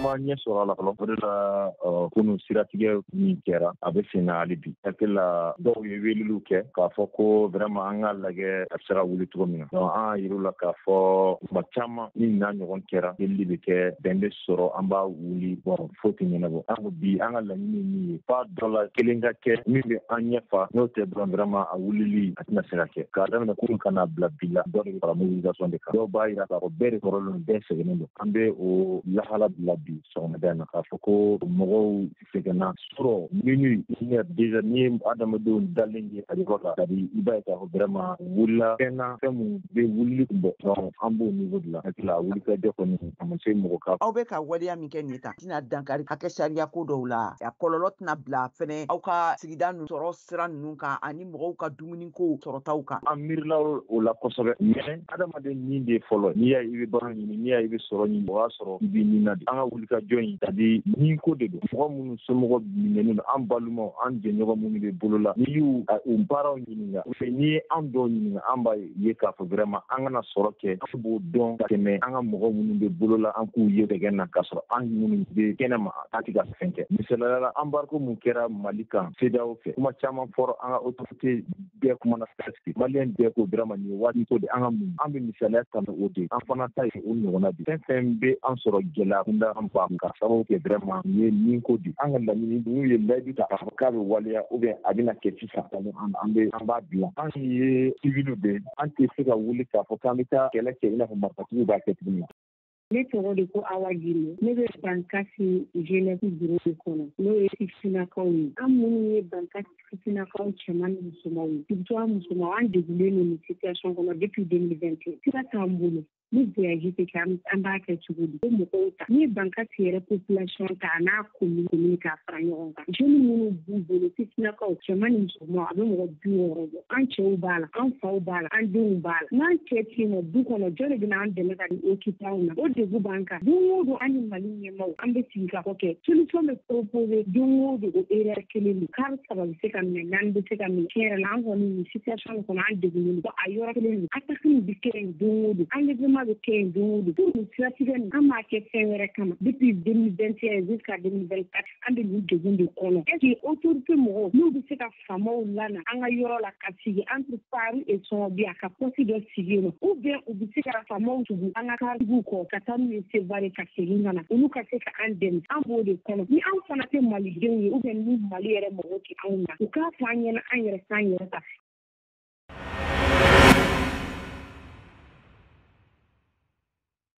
ma ɲɛ sɔrɔ a la fɔlɔ o de la kunu siratigɛ min kɛra a bɛ sen na hali bi hakili la dɔw ye weleliw kɛ k'a fɔ ko vraiment an ka lajɛ a bɛ se ka wuli cogo min na donc an y'a yir'u la k'a fɔ tuma caman ni n'a ɲɔgɔn kɛra delili bɛ kɛ bɛn bɛ sɔrɔ an b'a wuli bon foyi tɛ ɲɛnabɔ an ko bi an ka laɲini ye min ye f'a dɔ la kelen ka kɛ min bɛ an ɲɛfa n'o tɛ dɔrɔn vraiment a wulili tɛna se ka kɛ k'a daminɛ kunu ka n'a bila bi la dɔ de bɛ fara mobilisation de kan dɔw b'a yira k'a fɔ bɛɛ de tɔɔrɔlen bɛɛ sɛgɛnnen don an bɛ o lahala bila bi sɔgɔmada in na k'a fɔ ko mɔgɔw sɛgɛnna su rɔ minuit une heure déjà n'i ye adamadenw dalen ye a yɔrɔ la c'est-à-dire i b'a ye k'a fɔ vraiment wulila fɛn na fɛn min bɛ wulili kun bɔ donc an b'o niveau de la hakili la wulikajɔ kɔni a ma se mɔgɔ ka aw bɛ ka waleya min kɛ nin ye a tɛna dankari hakɛ sariya ko dɔw la a kɔlɔlɔ tɛna bila fɛnɛ aw ka sigida nu sɔrɔ sira ninnu kan ani mɔgɔw ka dumuni ko sɔrɔtaw kan an miirila o la kosɛbɛ mais adamaden nin de fɔlɔ n'i y'a i bɛ balo ɲini n'i y'a i bɛ sɔrɔ ɲini o y'a sɔrɔ i b'i nin na de an ka wulikajɔ in c'est-à-dire nin ko de don mɔgɔ minnu somɔgɔ minɛnen don an balumaw an jɛɲɔgɔn minnu bɛ bolo la n'i y'u u parentw ɲininka ou bien n'i ye an dɔw ɲininka an b'a ye k'a fɔ vraiment an kana sɔrɔ kɛ an b'o dɔn ka tɛmɛ an ka mɔgɔ minnu bɛ bolo la an k'u ye sɛgɛn na k'a sɔrɔ an minnu bɛ kɛnɛ ma an tɛ ka fɛn kɛ misaliya la embargo mun kɛra mali kan CEDEAO fɛ kuma caman fɔra an ka autorité bɛɛ kumana presque maliyɛn bɛɛ ko vraiment nin waati ko de an ka mun an bɛ misaliya ta ni o de an fana ta ye o ɲɔgɔnna de fɛn fɛn bɛ an sɔrɔ gɛlɛya kunda an ba ka sababu kɛ vraiment nin ye nin ko de an ka laɲini n'u ye layidu ta k'a fɔ k'a bɛ waleya ou bien a bɛna kɛ sisan an bɛ an b'a bila an ye civil de an tɛ se ka wuli k'a fɔ k'an bɛ taa kɛlɛ kɛ i n'a fɔ marifatigiw b'a kɛ cogo min ne tɔgɔ de ko awa jiri ne bɛ bankasi jeunesse bureau de kɔnɔ n'o ye sifinnakaw ye an minnu ye bankasi sifinnakaw cɛman ni musomanw ye surtout an musomanw an degulen don nin situation kɔnɔ depuis 2021 sira t'an bolo ni voyage tɛ kɛ an b'a kɛ cogo di ko mɔgɔw ta n'i ye bankasi yɛrɛ population ta n'a commune k'a fara ɲɔgɔn kan jeunes minnu b'u bolo sifinnakaw cɛman ni musoman a bɛ mɔgɔ bi wɔɔrɔ bɔ an cɛw b'a la an faw b'a la an denw b'a la n'an cɛ tɛ yen nɔ du kɔnɔ jɔn de bɛna an dɛmɛ ka di occuper anw na o degun b'an kan don o don an ni mali ɲɛmaaw an bɛ sigi ka fɔ kɛ solution bɛ proposé don o don o erreur kelen don kari saba bɛ se ka minɛ naani bɛ se ka minɛ tiɲɛ yɛrɛ la an kɔni nin situation kɔnɔ an degunnen don a yɔrɔ kelen don attaque nin bɛ kɛ yen don o don enlèvement bɛ kɛ yen don o don pour nin siratigɛ nin an m'a kɛ fɛn wɛrɛ kama depuis 2021 jusqu'à 2024 an bɛ nin degun de kɔnɔ est ce que autorité mɔgɔw n'u bɛ se ka faamaw lana an ka yɔrɔ la ka sigi entre Parou et Songobia ka poste dɔ sigi yen nɔ ou bien u bɛ se ka faamaw tugu an ka karitigiw kɔ ka taa n'u ye Sevare ka segin ka na olu ka se ka an dɛmɛ an b'o de kɔnɔ ni an fana tɛ malidenw ye ou bien ni Mali yɛrɛ mɔgɔw tɛ lase anw ma u k'a fɔ an ɲɛna an yɛrɛ k'an yɛrɛ ta